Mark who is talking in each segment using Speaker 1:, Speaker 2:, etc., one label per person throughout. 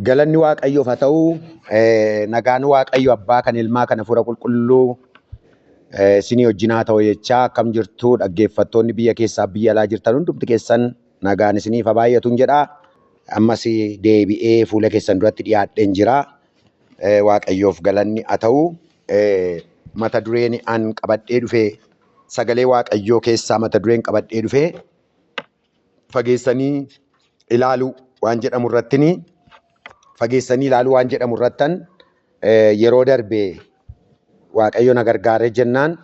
Speaker 1: Galanni Waaqayyoof haa ta'u, eh, nagaan Waaqayyo abbaa kan ilmaa kan hafuura qulqulluu eh, isinii wajjin haa ta'u jechaa akkam jirtu dhaggeeffattoonni biyya keessaa biyya alaa jirtan hundumti keessan nagaan isiniif haa baay'atuun jedha. Ammas deebi'ee fuula keessan duratti dhiyaadheen jira. Eh, Waaqayyoof galanni haa ta'u. Eh, Mata dureen an qabadhee dhufe sagalee Waaqayyoo keessaa mata dureen qabadhee dhufe fageessanii ilaaluu waan jedhamu irrattini fageessanii ilaaluu waan jedhamu irrattan eh, yeroo darbe waaqayyo na gargaaree jennaan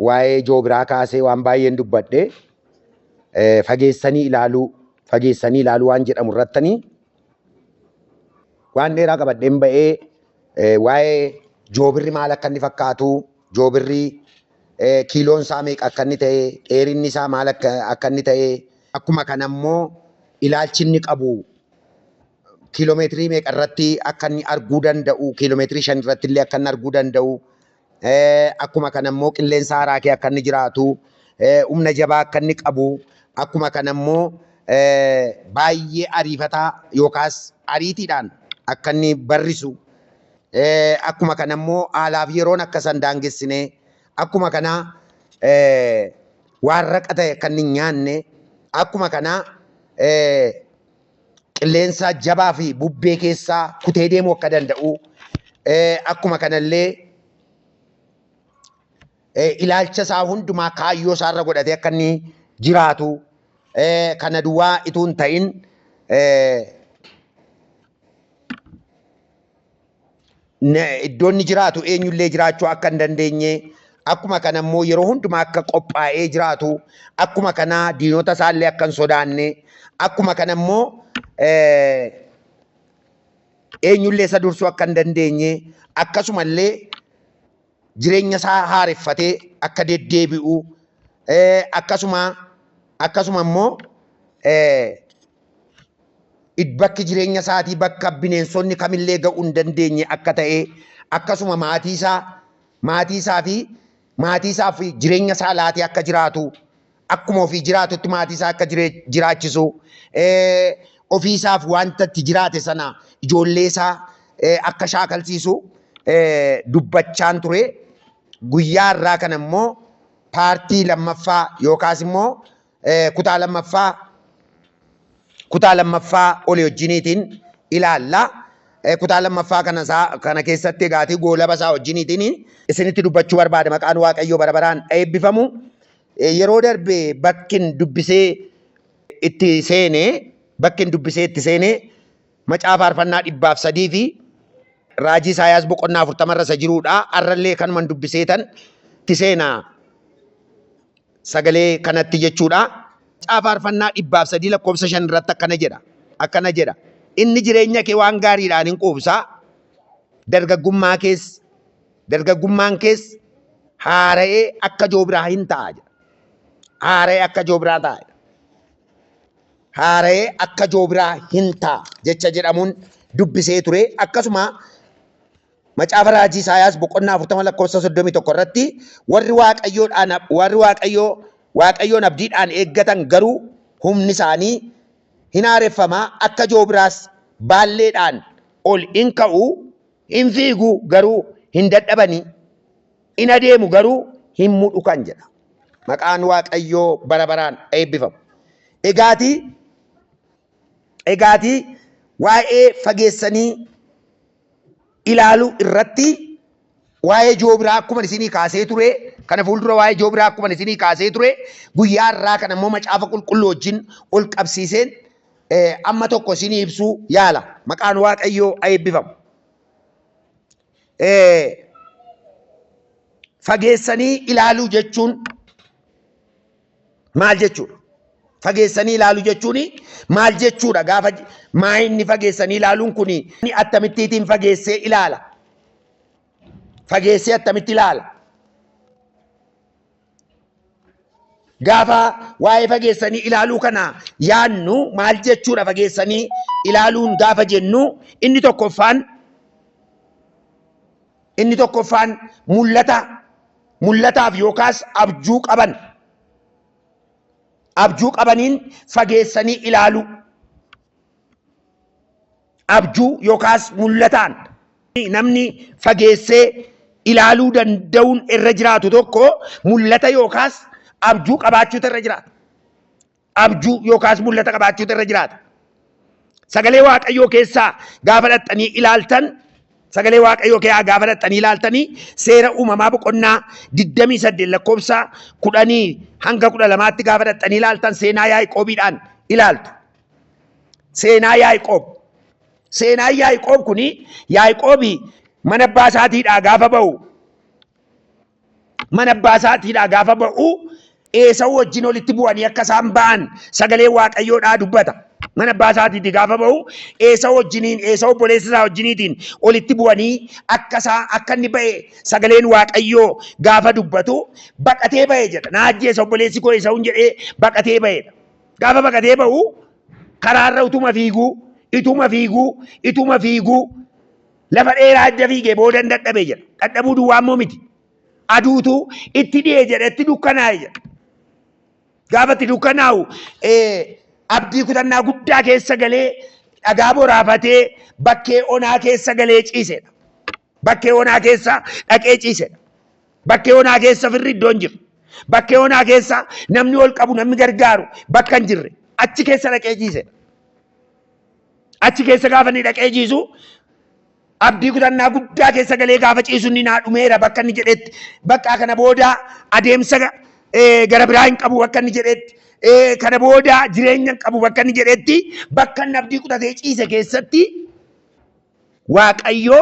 Speaker 1: waa'ee ijoo biraa kaasee waan baay'een dubbadhe eh, fageessanii ilaaluu fageessanii ilaaluu waan jedhamu irrattani waan dheeraa qabadheen ba'ee eh, waa'ee joobirri maal akka inni fakkaatu joobirri eh, kiiloon isaa meeqa akka inni ta'e, dheerinni isaa maal akka akka inni ta'e, akkuma kana immoo ilaalchi inni qabu kiiloomeetirii meeqa irratti akka inni arguu danda'u, kiiloomeetirii shan irratti illee akka inni arguu danda'u, eh, akkuma kana immoo qilleensa haaraa kee akka inni jiraatu, eh, humna jabaa akka inni qabu, akkuma kana immoo eh, baay'ee ariifataa yookaas ariitiidhaan akka inni barrisu Akkuma kana immoo haalaaf yeroon akka isaan daangessine akkuma kana waan raqa ta'e akka inni nyaanne akkuma kana qilleensaa jabaa fi bubbee keessaa kutee deemuu akka danda'u akkuma kanallee ilaalcha isaa hundumaa kaayyoo isaa irra godhatee akka inni jiraatu kana duwwaa ituu hin ta'in iddoo inni jiraatu eenyullee jiraachuu akka hin dandeenye akkuma kana immoo yeroo hundumaa akka qophaa'ee jiraatu akkuma kana diinota isaallee akka hin sodaanne akkuma kana immoo eenyullee isa dursuu akka hin dandeenye akkasumallee jireenya isaa haareffatee akka deddeebi'u akkasuma akkasuma immoo bakki jireenya isaatii bakka bineensonni kamillee ga'uu hin dandeenye akka ta'e akkasuma maatii isaa maatii isaa fi maatii isaa fi jireenya isaa laatee akka jiraatu akkuma ofii jiraatutti maatii isaa akka jiraachisu ofii isaaf wanta itti jiraate sana ijoollee isaa akka shaakalsiisu dubbachaan ture. Guyyaa irraa kana immoo paartii lammaffaa yookaas immoo kutaa lammaffaa kutaa lammaffaa olii wajjiniitiin ilaalla. Kutaa lammaffaa kana isaa kana keessatti egaatee goolaba isaa wajjiniitiin isinitti dubbachuu barbaada maqaan waaqayyoo bara baraan eebbifamu. Yeroo darbe bakkin dubbisee itti seene bakkin dubbisee itti seene macaafa faarfannaa dhibbaaf sadii fi raajii Isaayaas boqonnaa afurtama irra isa jiruudha. Har'allee kanuman dubbisee tan itti seena sagalee kanatti jechuudha. Macaafa faarfannaa dhibbaaf sadii lakkoofsa shan irratti akkana jedha. Akkana jedha. Inni jireenya kee waan gaariidhaan in quubsa. Dargaggummaa kees Dargaggummaan kees haara'ee akka joobiraa hin ta'a jedha. Haara'ee akka joobiraa ta'a jedha. Haara'ee akka joobiraa hin ta'a jecha jedhamuun dubbisee ture. Akkasuma macaafa raajii Isaayaas boqonnaa 40 lakkoofsa 31 irratti warri waaqayyoodhaan warri waaqayyoo waaqayyoon abdiidhaan eeggatan garuu humni isaanii hin haareffama akka joobiraas baalleedhaan ol in ka'u In fiigu garuu hin dadhabani, in adeemu garuu hin mudhukan jedha. Maqaan Waaqayyoo bara baraan eebbifamu. Egaati egaati waa'ee fageessanii ilaalu irratti waa'ee joobiraa akkuma isinii kaasee ture kana fuuldura waa'ee joobiraa akkuma isinii kaasee ture guyyaa irraa kana immoo macaafa qulqulluu wajjin ol qabsiiseen amma tokko isinii ibsuu yaala maqaan waaqayyoo aeebbifamu fageessanii ilaaluu jechuun maal jechuudha fageessanii ilaaluu jechuun maal jechuudha gaafa maa inni fageessanii ilaaluun kun attamittiitiin fageessee ilaala fageessee attamitti ilaala Gaafa waa'ee fageessanii ilaaluu kana yaannu maal jechuudha fageessanii ilaaluun gaafa jennu inni tokkoffaan inni tokkoffaan mul'ata mul'ataaf yookaas abjuu qaban abjuu qabaniin fageessanii ilaaluu abjuu yookaas mul'ataan namni fageessee ilaaluu danda'uun irra jiraatu tokko mul'ata yookaas abjuu qabaachuutu irra jiraata. Abjuu yookaas mul'ata qabaachuutu irra jiraata. Sagalee Waaqayyoo keessaa gaafa dhaqxanii ilaaltan sagalee Waaqayyoo keessaa gaafa dhaqxanii ilaaltanii seera uumamaa boqonnaa 28 lakkoofsa 10 hanga 12tti gaafa dhaqxanii ilaaltan seenaa Yaaqoobiidhaan ilaaltu. Seenaa Yaaqoob. Seenaan Yaaqoob kun Yaaqoob mana abbaa isaatiidhaa gaafa ba'u mana abbaa isaatiidhaa gaafa ba'u Eesawu wajjin walitti bu'anii akka isaan ba'an sagalee Waaqayyoodhaa dubbata. Mana abbaa isaatiitii gaafa ba'u Eesawu wajjiniin Eesawu obboleessa isaa wajjiniitiin walitti bu'anii akka isaa akka inni ba'e sagaleen Waaqayyoo gaafa dubbatu baqatee ba'e jedha. Na ajjeesa obboleessi koo Eesawuun jedhee baqatee ba'edha. Gaafa baqatee ba'u karaarra utuma fiiguu, ituma fiiguu, ituma fiiguu lafa dheeraa adda fiigee booda hin dadhabe jedha. Dadhabuu duwwaa immoo miti. Aduutu itti dhi'e jedha, itti dukkanaa'e jedha. Gaafa itti dukkanaa'u eh, abdii kutannaa guddaa keessa galee dhagaa boraafatee bakkee onaa keessa galee ciisedha. Bakkee onaa keessa dhaqee ciisedha. Bakkee onaa keessa firri iddoo hin jirre. Bakkee onaa keessa namni ol qabu namni gargaaru bakka hin jirre. Achi keessa dhaqee ciisedha. Achi keessa gaafa inni dhaqee ciisu abdii kutannaa guddaa keessa galee gaafa ciisu inni naa dhumeera bakka inni jedhetti bakka kana booda adeemsa eh, gara biraa hin qabu bakka inni jedhetti eh, kana booda jireenya hin qabu bakka inni jedhetti bakka inni abdii kutatee ciise keessatti waaqayyoo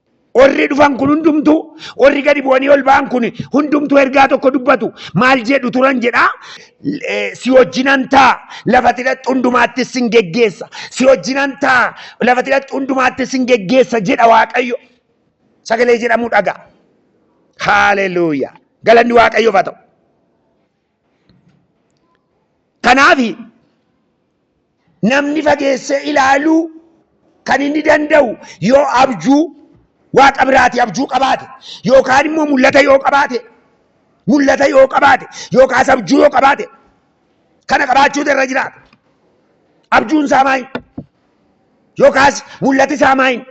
Speaker 1: Warri dhufan kun hundumtuu, warri gadi bu'anii ol ba'an kun hundumtuu ergaa tokko dubbatu. Maal jedhu turan jedhaa? Eh, Si wajjinan ta'a, lafati dhaqxu hundumaatti sin geggeessa. Si wajjinan ta'a, lafati dhaqxu hundumaatti sin geggeessa jedha Waaqayyo. Sagalee jedhamu dhaga. Haaleluuyaa. Galanni Waaqayyoof haa ta'u. Kanaaf namni fageessee ilaaluu kan inni danda'u yoo abjuu waaqa biraati abjuu qabaate yookaan immoo mul'ata yoo qabaate mul'ata yoo qabaate yookaas abjuu yoo qabaate kana qabaachuutu irra jiraata. Abjuun isaa maayin yookaas mul'ati isaa maayin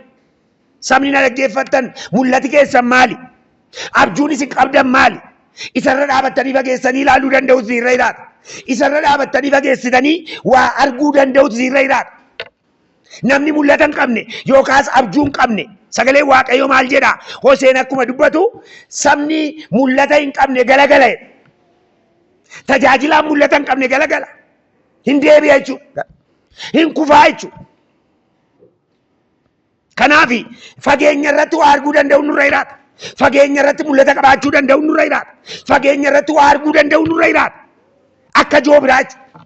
Speaker 1: Sabni na dhaggeeffattan mul'ati keessan maali? Abjuun isin qabdan maali? Isarra dhaabattanii fageessanii ilaaluu danda'u isinirra jiraata. Isarra dhaabattanii fageessitanii waa arguu danda'u isinirra jiraata. Namni mul'ata hin qabne yookaas abjuu hin qabne sagalee Waaqayyoo maal jedha? Hoseen akkuma dubbatu sabni mul'ata hin qabne galagala jedha. Tajaajilaan mul'ata hin qabne galagala. Hin deebi'a jechuudha. Hin kufaa jechuudha. Kanaaf fageenya irratti waa arguu danda'u nurra jiraata. Fageenya irratti mul'ata qabaachuu danda'u nurra jiraata. Fageenya irratti waa arguu danda'u nurra jiraata. Akka joobiraa jechuudha.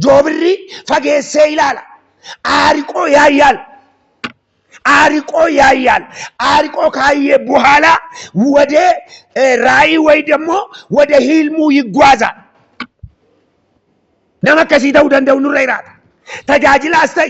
Speaker 1: Joobirri fageessee ilaala. Aariqoo yaayyaal. Aariqoo yaayyaal. Aariqoo kaayyee buhaalaa wadee eh, raayii wayi dammoo wada hiilmuu yiggwaazaa. Nama akkasii ta'uu danda'u nurra jiraata. Tajaajilaas ta'e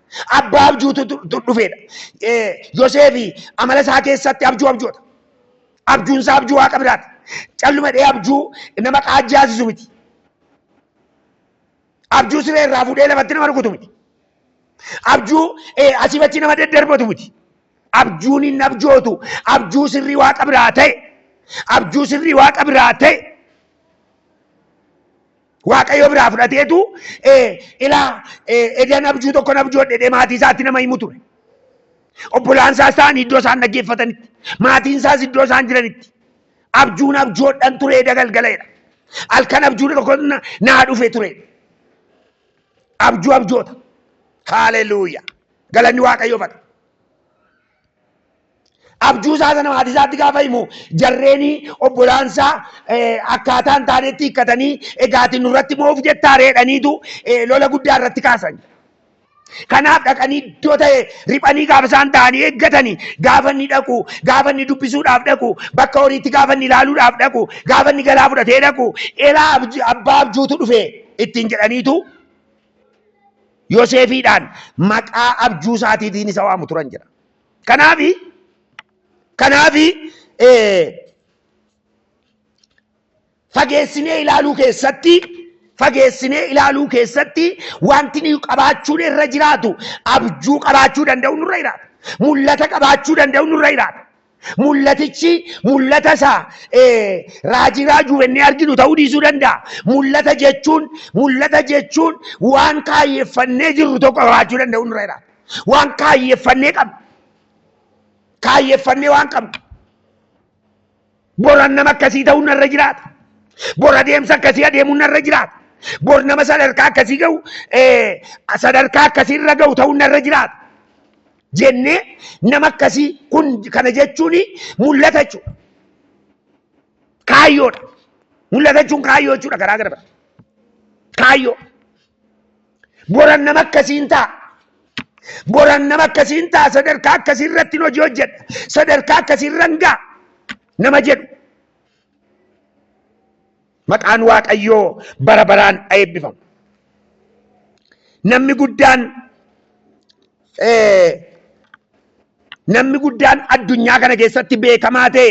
Speaker 1: Abbaa abjuutu dhufeedha. Yoseefi amala isaa keessatti abjuu abjoota. Abjuun isaa abjuu waaqa biraati. Calluma dhee abjuu nama qaajjaasisu miti. Abjuu siree irraa fuudhee lafatti nama rukutu miti. Abjuu asiif achi nama daddarbatu miti. Abjuun hin abjootu. Abjuu sirrii waaqa biraa ta'e. Abjuu sirrii waaqa biraa ta'e. Waaqayyo biraa fudhateetu ilaa edan abjuu tokkon abjoodhe jedhee maatii isaatti nama himu ture. Obbolaan isaas ta'an iddoo isaan dhaggeeffatanitti, maatiin isaas iddoo isaan jiranitti. Abjuun abjoodhan ture eda galgalaedha. Halkan abjuu tokko naa dhufe ture. Abjuu abjoota. Haaleluuyaa. Galanni Waaqayyoof haa ta'u. Abjuu isaa sana maatii isaatti gaafa himu jarreeni obbolaan isaa akkaataa hin taanetti hiikkatanii egaati nurratti moof jettaa reedhaniitu lola guddaa irratti kaasan. Kanaaf dhaqanii iddoo ta'e riphanii gaafa isaan ta'anii eeggatanii gaafa inni dhaqu gaafa inni dubbisuudhaaf dhaqu bakka horiitti gaafa inni ilaaluudhaaf dhaqu gaafa inni galaa fudhatee dhaqu elaa abbaa abjuutu dhufe ittiin jedhaniitu Yoseefiidhaan maqaa abjuu isaatiitiin isa waamu turan jedha. Kanaafi kanaafi fageessinee ilaaluu keessatti fageessinee ilaaluu keessatti wanti nuyi qabaachuun irra jiraatu abjuu qabaachuu danda'u nurra jiraata. Mul'ata qabaachuu danda'u nurra jiraata. Mul'atichi mul'ata isa raajii raajuu jennee arginu ta'uu dhiisuu danda'a. Mul'ata jechuun mul'ata jechuun waan kaayyeffannee jirru tokko qabaachuu danda'u nurra jiraata. Waan kaayyeffannee qabnu kaayyeffannee waan qabnu boran nama akkasii ta'uu narra jiraata. Bor adeemsa akkasii adeemuu narra jiraata. Bor nama sadarkaa akkasii ga'u sadarkaa akkasii irra ga'u ta'uu narra jiraata. jennee nama akkasii kun kana jechuun mul'ata jechuudha. Kaayyoodha. Mul'ata jechuun kaayyoo jechuudha garaa gara bara. Kaayyoo. Boran nama akkasiin ta'a. Boran nama akkasiin ta'a sadarkaa akkasii irratti hojii hojjedha. Sadarkaa akkasii irra hin ga'a nama jedhu. Maqaan Waaqayyoo bara baraan haa eebbifamu. Namni guddaan eh, namni guddaan addunyaa kana keessatti beekamaa ta'e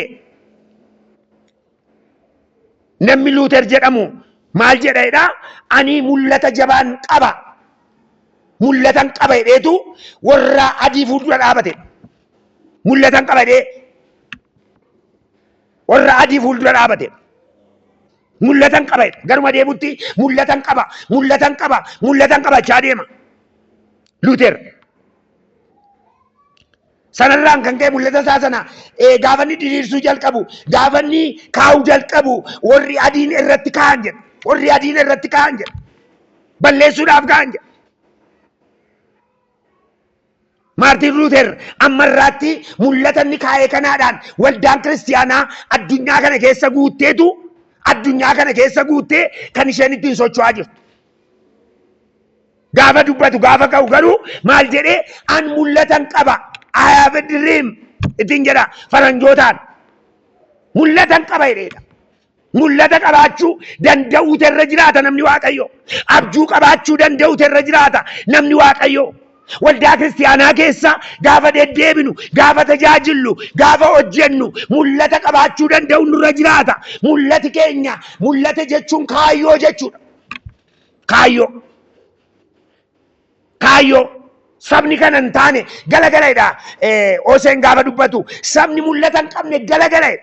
Speaker 1: namni Luuter jedhamu maal jedha jedha ani mul'ata jabaan qaba mul'atan qaba jedheetu warra adii fuuldura dhaabate mul'atan qaba jedhee warra adii fuuldura dhaabate mul'atan qaba jedha. Garuma deemutti mul'atan qaba, mul'atan qaba, mul'atan qaba jechaa deema. Luuter. Sanarraan kan ka'e mul'ata isaa sana eh, gaafa inni diriirsuu jalqabu, gaafa inni kaa'uu jalqabu warri adiin irratti kaa'an jedha. Warri adiin irratti kaa'an jedha. Balleessuudhaaf kaa'an jedha. Maartiin Luuter amma irraatti mul'ata inni kaa'e kanaadhaan waldaan kiristiyaanaa addunyaa kana keessa guutteetu addunyaa kana keessa guuttee kan isheen ittiin socho'aa jirtu. Gaafa dubbatu gaafa ka'u garuu maal jedhee an mul'atan qaba. I have a dream ittiin jedha faranjootaan. Mul'atan qaba jedheedha. Mul'ata qabaachuu danda'uutu irra jiraata namni Waaqayyoo. Abjuu qabaachuu danda'uutu irra jiraata namni Waaqayyoo. Waldaa kiristaanaa keessa gaafa deddeebinu, gaafa tajaajillu, gaafa hojjennu mul'ata qabaachuu danda'u nurra jiraata. Mul'ati keenya mul'ata jechuun kaayyoo jechuudha. Kaayyoo. Kaayyoo. Sabni kana hin taane galagaladha. Hoseen gaafa dubbatu sabni mul'ata hin qabne galagaladha.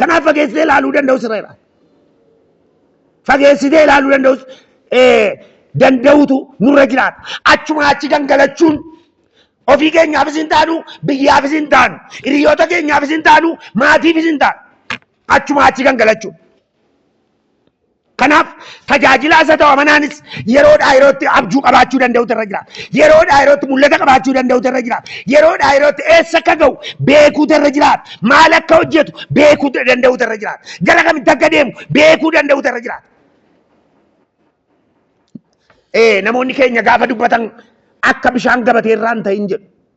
Speaker 1: Kanaaf fageessitee ilaaluu danda'u sirra jiraata. Fageessitee ilaaluu danda'us danda'utu nurra jiraata. Achuma achi gangalachuun ofii keenyaafis hin taanu, biyyaafis hin taanu, hiriyoota keenyaafis hin taanu, maatiifis hin taanu. Achuma achi gangalachuun. Kanaaf tajaajilaa isa ta'u amanaanis yeroodhaa yerootti abjuu qabaachuu danda'utu irra jira. Yeroodhaa yerootti mul'ata qabaachuu danda'utu irra jira. Yeroodhaa yerootti eessa akka ga'u beekuutu irra jira. Maal akka hojjetu beekuu danda'utu irra jira. Gara kamitti akka deemu beekuu danda'utu irra jira. Ee namoonni keenya gaafa dubbatan akka bishaan gabatee irraa hin ta'in jedhu.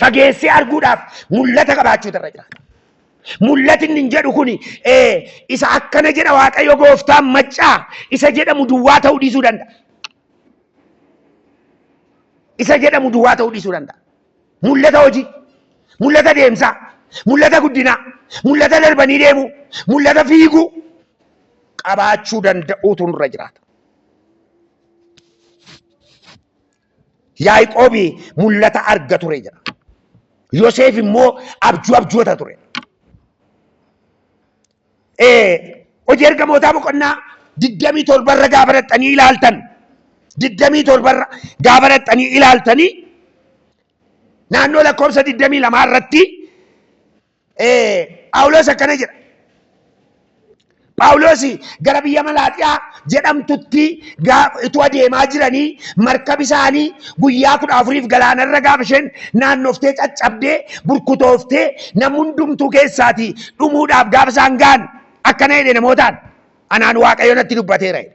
Speaker 1: fageessee arguudhaaf mul'ata qabaachuutu irra jiraata. Mul'ati inni jedhu kun isa akkana jedha Waaqayyo gooftaan maccaa isa jedhamu duwwaa ta'uu dhiisuu danda'a. Isa jedhamu duwwaa ta'uu dhiisuu danda'a. Mul'ata hojii, mul'ata deemsaa, mul'ata guddinaa, mul'ata darbanii deemuu, mul'ata fiiguu qabaachuu danda'uutu irra jiraata. Yaaqoob mul'ata arga ture jedha. Yoseef immoo abjuu abjoota ture. Hojii ergamootaa boqonnaa digdamii torbarra gaafa dhaqxanii ilaaltan digdamii torbarra gaafa dhaqxanii ilaaltanii naannoo lakkoofsa digdamii lamaa irratti Phaawulos akkana jedha. Phaawulos gara biyya Malaaxiyaa jedhamtutti utuu adeemaa jiranii markabi isaanii guyyaa kudha afuriif galaanarra gaafa isheen naannoftee caccabdee burkutooftee nam hundumtuu keessaatii dhumuudhaaf gaafa isaan ga'an akkana jedhe namootaan anaan waaqayyo natti dubbateera jedhe.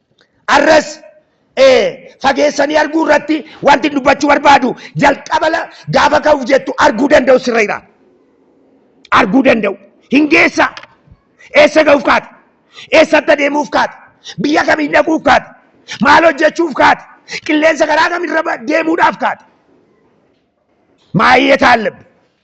Speaker 1: Arras fageessanii arguu irratti wanti dubbachuu barbaadu jalqaba gaafa ka'uuf jettu arguu danda'u sirra jira. Arguu danda'u. Hin geessa. Eessa ga'uuf kaate? Eessatti adeemuuf kaate? Biyya kamiin dhaquuf kaate? Maal hojjechuuf kaate? Qilleensa karaa kamirra deemuudhaaf kaate? Maayee taallabbi.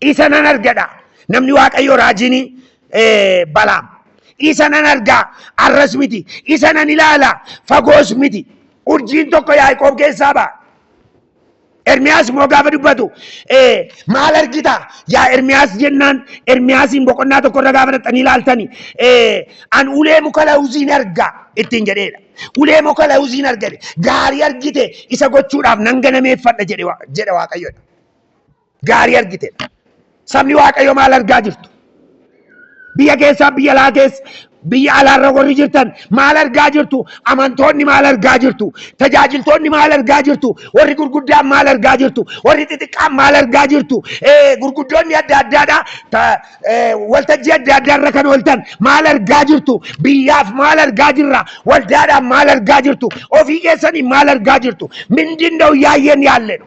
Speaker 1: Isa nan argadha. Namni Waaqayyoo raajiin balaam. Isa nan argaa arras miti. Isa nan ilaala fagoos miti. Urjiin tokko Yaaqoob keessaa ba'a. Ermiyaas immoo gaafa dubbatu maal argita yaa Ermiyaas jennaan Ermiyaasiin boqonnaa tokkorra gaafa dhaqxanii ilaaltani an ulee muka lawuziin argaa ittiin jedheedha. Ulee muka lawuziin argate gaarii argite isa gochuudhaaf nan ganameeffadha jedhe Waaqayyoodha. gaarii argitedha. Sabni Waaqayyo maal argaa jirtu? Biyya keessaa biyya alaa keessa biyya alaarra warri jirtan maal argaa jirtu? Amantoonni maal argaa jirtu? Tajaajiltoonni maal argaa jirtu? Warri gurguddaan maal argaa jirtu? Warri xixiqqaan maal argaa jirtu? Eh, Gurguddoonni adda addaadha. Ta- eh, Waltajjii adda addaarra kan ooltan maal argaa jirtu? Biyyaaf maal argaa jirra? Waldaadhaan maal argaa jirtu? Ofii keessanii maal argaa jirtu? Mindin da'u yaayyeen yaalledhu.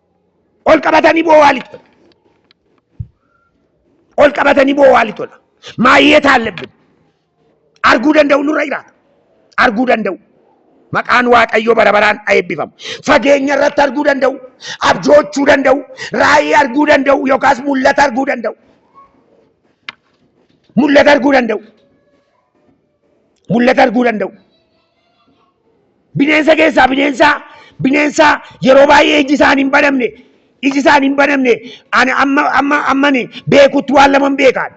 Speaker 1: ol qabatanii boo'aa lixola. Ol qabatanii boo'aa lixola. Maayyee taallebbin arguu danda'u nurra jiraata. Arguu danda'u. Maqaan Waaqayyoo bara baraan haa eebbifamu. Fageenya irratti arguu danda'u, abjoochuu danda'u, raayii arguu danda'u yookaas mul'ata arguu danda'u. Mul'ata arguu danda'u. mul'ata arguu danda'u. Bineensa keessaa bineensaa bineensaa yeroo baay'ee iji isaan hin banamne iji isaan hin banamne ani amma amma ammani beekutti waan laman beekaan.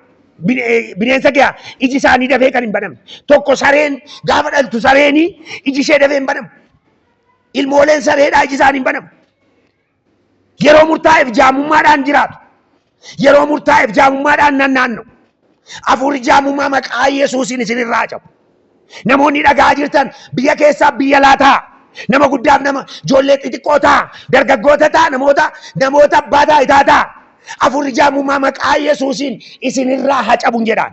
Speaker 2: Bineensa kee iji isaanii dafee kan hin banamne. Tokko sareen gaafa dhaltu sareenii iji ishee dafee hin banamu. Ilmooleen sareedhaa iji isaanii hin banamu. Yeroo murtaa'eef jaamummaadhaan jiraatu. Yeroo murtaa'eef jaamummaadhaan nannaanna'u. Hafuurri jaamummaa maqaa Yesuusiin isinirraa cabu. Namoonni dhagaa jirtan biyya keessaa biyya laa ta'a. Nama guddaaf nama ijoollee xixiqqoo ta'a. Dargaggoota ta'a namoota namoota abbaa taayitaa ta'a. Hafuurri jaamummaa maqaa Yesuusiin isinirraa haa cabun jedhaan.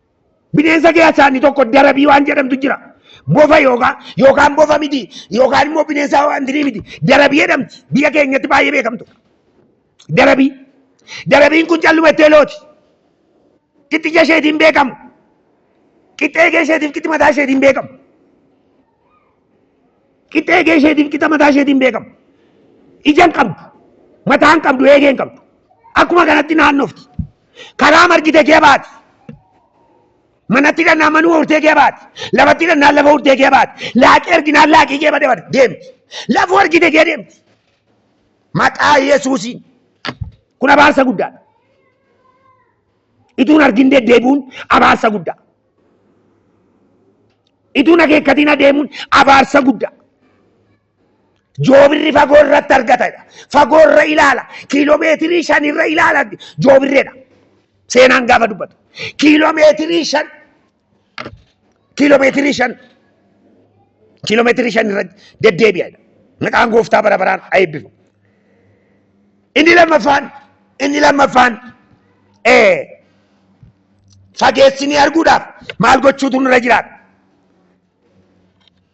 Speaker 2: Bineensa keessaa inni tokko darabii waan jedhamtu jira. Bofa yookaan yookaan bofa miti yookaan immoo bineensa waan dirii miti. Darabii jedhamti. Biyya keenyatti baay'ee beekamtu. Darabii. Darabiin kun calluma ittee looti. Qixxija isheetiin beekamu. Qixxee eegee isheetiif qixxi mataa isheetiin beekamu. Qixxee eegee isheetiif qixa mataa isheetiin beekamu. Ija hin qabdu. Mataa hin qabdu eegee hin qabdu. Akkuma kanatti naannofti. Karaa margite kee baati. Manatti dhannaa manuma urtee kee baati. Lafatti dhannaa lafa urtee kee baati. Laaqii arginaan laaqii kee bade bade deemti. Lafa argite kee deemti. Maqaa Yesuusiin. Kun abaarsa guddaadha. Ituun argin deddeebi'uun abaarsa guddaa. Ituun akeekkatiin adeemuun abaarsa guddaa. Joobirri fagoo irratti argatadha. Fagoo irra ilaala. Kiiloomeetirii shan irra ilaala joobirreedha. Seenaan gaafa dubbatu. Kiiloomeetirii shan kiiloomeetirii shan kiiloomeetirii shan irra deddeebi'adha. Maqaan gooftaa bara baraan haa eebbifamu. Inni lammaffaan inni lammaffaan ee fageessinee arguudhaaf maal gochuutu nurra jiraata?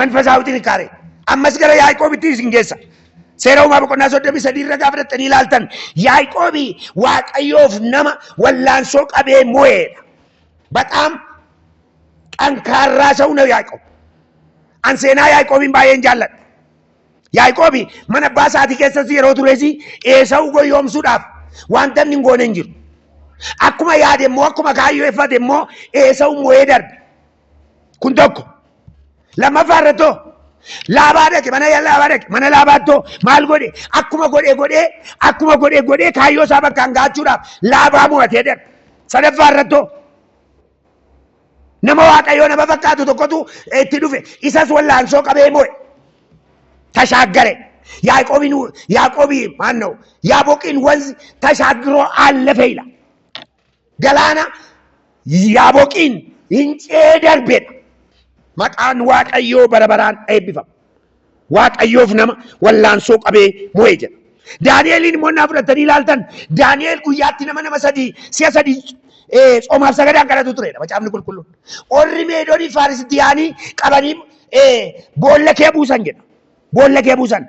Speaker 2: መንፈሳዊ ጥንካሬ ammas gara Yaaqoobitti isin geessa. Seera uumaa boqonnaa 33 irra gaafa dhattanii ilaaltan Yaaqoobi Waaqayyoof nama wallaansoo qabee mo'eedha. Bataam xankaarraa sa'u na Yaaqoob. An seenaa Yaaqoobiin baay'een jaalladha. Yaaqoobi mana abbaa isaatii keessas yeroo tures Eesawu goyyoomsuudhaaf wanta inni hin goone hin jiru. Akkuma yaade immoo akkuma kaayyeffate immoo Eesawu mo'ee darbe. kun tokko lammaffaa irratti hoo laabaa dhaqe mana laabaa dhaqe mana laabaatti hoo maal godhe akkuma godhe godhee akkuma godhe godhee kaayyoo isaa bakkaan gaachuudhaaf laabaa mo'atee darbe sadaffaa irratti hoo nama waaqayyoo nama fakkaatu tokkotu itti dhufe isas wallaansoo qabee mo'e tashaaggare yaaqoobiin yaaqoobii maanna'u yaaboqiin wanzi tashaagiroo aallafeeyla Galaana yaaboqiin hin ce'ee darbedha. Maqaan Waaqayyoo bara baraan eebbifama. Waaqayyoof nama wallaansoo qabee mo'e jedha. Daani'eliin immoo naa fudhattanii ilaaltan Daani'el guyyaatti nama nama sadii si'a sadii eh, tsoomaaf sagadaan kadhatu turedha macaafni qulqulluun. Orri meedoonii faarisitti yaanii qabanii eh, boolla kee buusan jedha. Boolla kee buusan.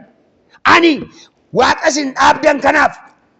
Speaker 2: Ani waaqa isin dhaabdan kanaaf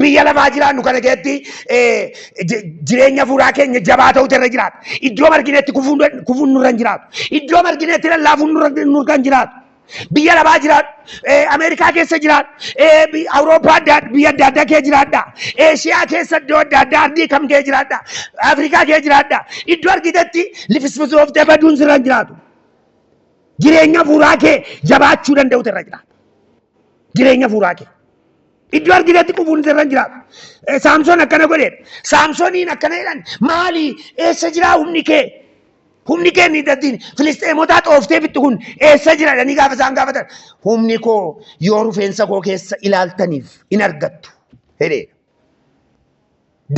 Speaker 2: Biyya lafaa jiraannu kana keessatti eh, ji- jireenya fuuraa keenya jabaa ta'utu irra jiraata. Iddoo marginetti kufuun kufuun nurra hin jiraatu. Iddoo marginetti lallaafuun nurra nurra hin jiraatu. Biyya lafaa jiraadhu, eh, Ameerikaa keessa jiraadhu, eh, bi- Awurooppaa adda adda- biyya adda addaa kee jiraadha. Eeshiyaa keessa iddoo adda addaa ardii kam kee jiraadha. Afrikaa kee jiraadha. Iddoo argitetti lifisfisooftee baduun sirra hin jiraatu. Jireenya fuuraa kee jabaachuu danda'utu irra jiraata. jireenya fuuraa kee. Iddoo arginetti qufuun sirra hin jiraatu. Eh, Saamsoon akkana godheedha. Saamsooniin akkana jedhan maali eessa jiraa humni kee? Humni kee inni daddiin Filisxeemotaa xooftee fixxu kun eessa jira jedhanii gaafa isaan gaafatan humni koo yoo rufeensa koo keessa ilaaltaniif in argattu jedheedha.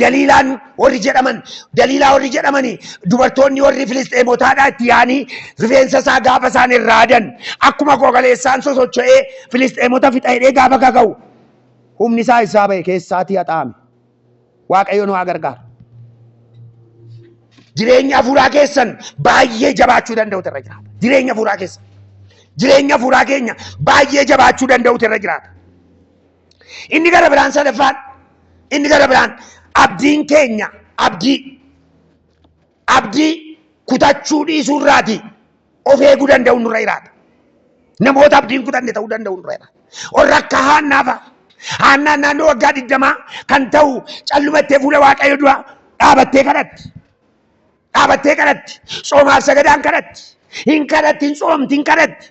Speaker 2: Daliilaan warri jedhaman daliilaa warri jedhamanii dubartoonni warri filisxeemotaadhaa itti yaanii rifeensa isaa gaafa isaan irraa adan akkuma gogaleessaan sosocho'ee filisxeemota fixa hidhee gaafa kaka'u humni isaa isaa ba'e keessaatii haxaa'ame waaqayyo nu haa gargaaru. Jireenya hafuuraa keessan baay'ee jabaachuu danda'utu irra jiraata. Jireenya hafuuraa keessan jireenya hafuuraa keenya baay'ee jabaachuu danda'utu irra jiraata. Inni gara biraan sadaffaan inni gara biraan abdiin keenya abdii abdii kutachuu dhiisuu irraati of eeguu danda'u nurra jiraata. Namoota abdiin kutanne ta'uu danda'u nurra jiraata. Warra akka haannaafa haannaan naannoo waggaa digdamaa kan ta'u callumattee fuula waaqayyo dura dhaabattee kadhatti. Dhaabattee kadhatti. Soomaaf sagadaan kadhatti. Hin kadhatti hin soomti hin kadhatti.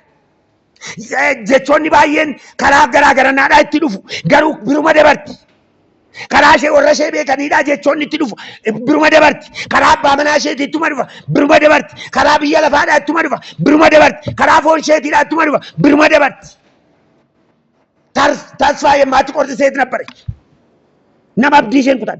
Speaker 2: jechoonni baay'een karaa garaa garanaadhaa itti dhufu garuu biruma dabarti. Karaa ishee warra ishee beekaniidhaa jechoonni itti dhufu biruma dabarti. Karaa abbaa manaa isheetii ittuma dhufa biruma dabarti. Karaa biyya lafaadhaa ittuma dhufa biruma dabarti. Karaa foon isheetiidhaa ittuma dhufa biruma dabarti. Tasfaa yemmaatti qorti seet nabbarechi. Nama abdii isheen kutan.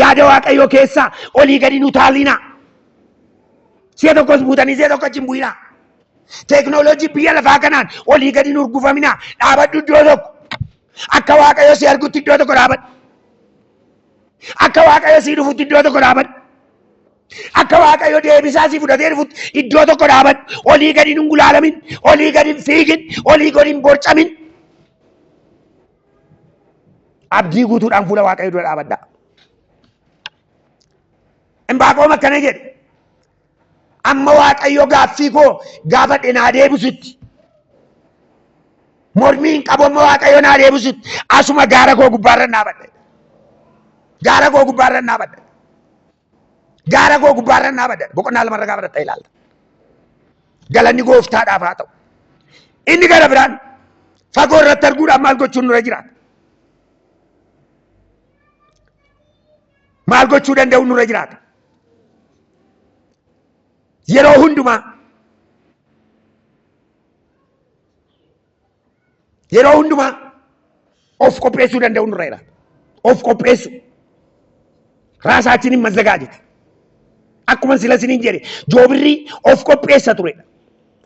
Speaker 2: Yaada Waaqayyoo keessaa olii gadi hin utaalinaa. Si'a tokkos buutanii si'a tokko achi hin bu'inaa. Teeknooloojii biyya lafaa kanaan olii gadi hin urgufaminaa. Dhaabadhu iddoo tokko. Akka Waaqayyo si argutti iddoo tokko dhaabadhu. Akka Waaqayyo sii dhufutti iddoo tokko dhaabadhu. Akka Waaqayyo deebisaa sii fudhatee dhufutti iddoo tokko dhaabadhu. Olii gadi hin gulaalamin, olii gadi hin fiigin, olii gadi hin borcamin. Abdii guutuudhaan fuula Waaqayyoo dura dhaabadhaa. Imbaaqoom akkana jedhe. Amma Waaqayyo gaaffii koo gaafadhe naa deebisutti. Mormii hin qabu amma Waaqayyo naa deebisutti. Asuma gaara koo gubbaarra dhaabadha. Gaara koo gubbaarra dhaabadha. Gaara koo gubbaarra naa badan boqonnaa lamarra gaafa dhaxxee ilaalta. Galanni gooftaadhaaf haa ta'u. Inni gara biraan fagoo irratti arguudhaaf maal gochuun nurra jiraata? Maal gochuu danda'u nurra jiraata? Yeroo hundumaa Yeroo hundumaa of qopheessuu danda'uun nurra jiraata. Of qopheessuu. Raasaachiniin mazzagaa jete. Akkuma sila siniin jedhe joobirri of qopheessa turedha.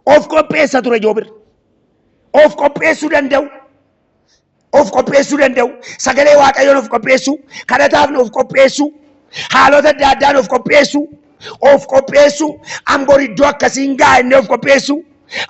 Speaker 2: Of qopheessa ture joobirri. Of qopheessuu danda'u. of qopheessuu danda'u, sagalee waaqayyoon of qopheessuu, kadhataaf of qopheessuu, haalota adda addaan of qopheessuu, of qopheessuu, an bor iddoo akkasiin ga'a inni of qopheessuu,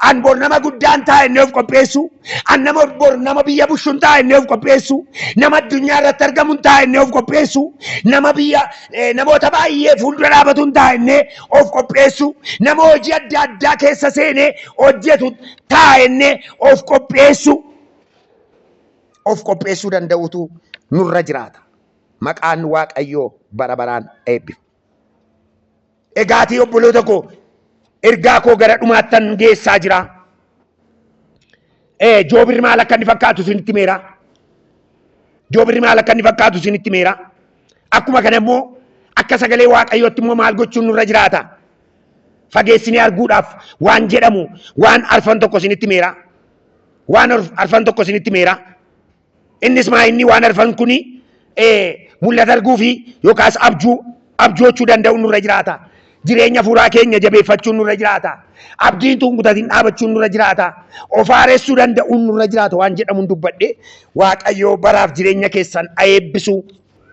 Speaker 2: an bor nama guddaan ta'a inni of qopheessuu, an nama bor nama biyya bushuun ta'a inni of qopheessuu, nama addunyaa irratti argamuun ta'a inni of qopheessuu, nama biyya eh, namoota baay'ee fuuldura dhaabatuun ta'a inni of qopheessuu, nama hojii adda addaa keessa seenee hojjetu ta'a inni of qopheessuu. of qopheessuu danda'utu nurra jiraata. Maqaan Waaqayyoo bara baraan eebbifamu. Egaatii obboloota koo ergaa koo gara dhumaattan geessaa jira. Ee, Joobirri maal akka inni fakkaatu isinitti himeera. Joobirri maal akka inni fakkaatu isinitti himeera. Akkuma kana immoo akka sagalee Waaqayyootti immoo maal gochuun nurra jiraata? Fageessinee arguudhaaf waan jedhamu waan arfan tokko isinitti himeera. Waan arf- arfan tokko isinitti meera. Innis maa inni waan arfan kuni eh, mul'ata arguu fi yookaas abjuu abjoochuu danda'u nurra jiraata. Jireenya fuuraa keenya jabeeffachuun nurra jiraata. Abdiin tun kutatiin dhaabachuun nurra jiraata. Of haaressuu danda'uun nurra jiraata waan jedhamuun dubbadhe Waaqayyoo baraaf jireenya keessan haa eebbisu.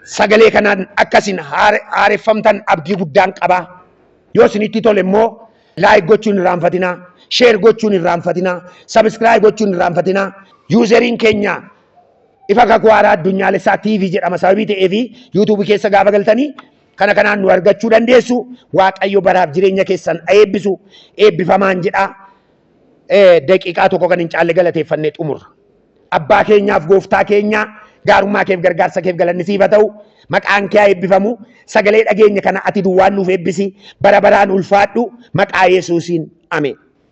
Speaker 2: Sagalee kanaan akkasin haareffamtan abdii guddaan qaba. Yoo isinitti tole immoo Like gochuu hin irraanfatinaa. Share gochuu hin irraanfatinaa. Subscribe gochuu hin irraanfatinaa. Useriin keenya Ifa Kakuu Haaraa Addunyaalessaa TV jedhama sababii ta'eefi YouTube keessa gaafa galtanii kana kanaan nu argachuu dandeessu. Waaqayyo baraaf jireenya keessan haa eebbisu. Eebbifamaan jedhaa. Eh, Daqiiqaa tokko kan hin caalle galateeffannee xumurra. Abbaa keenyaaf gooftaa keenyaa gaarummaa keef gargaarsa keef galanni siif haa ta'u maqaan kee haa eebbifamu sagalee dhageenya kana ati duwwaan nuuf eebbisi bara baraan ulfaadhu maqaa yesuusiin ameen.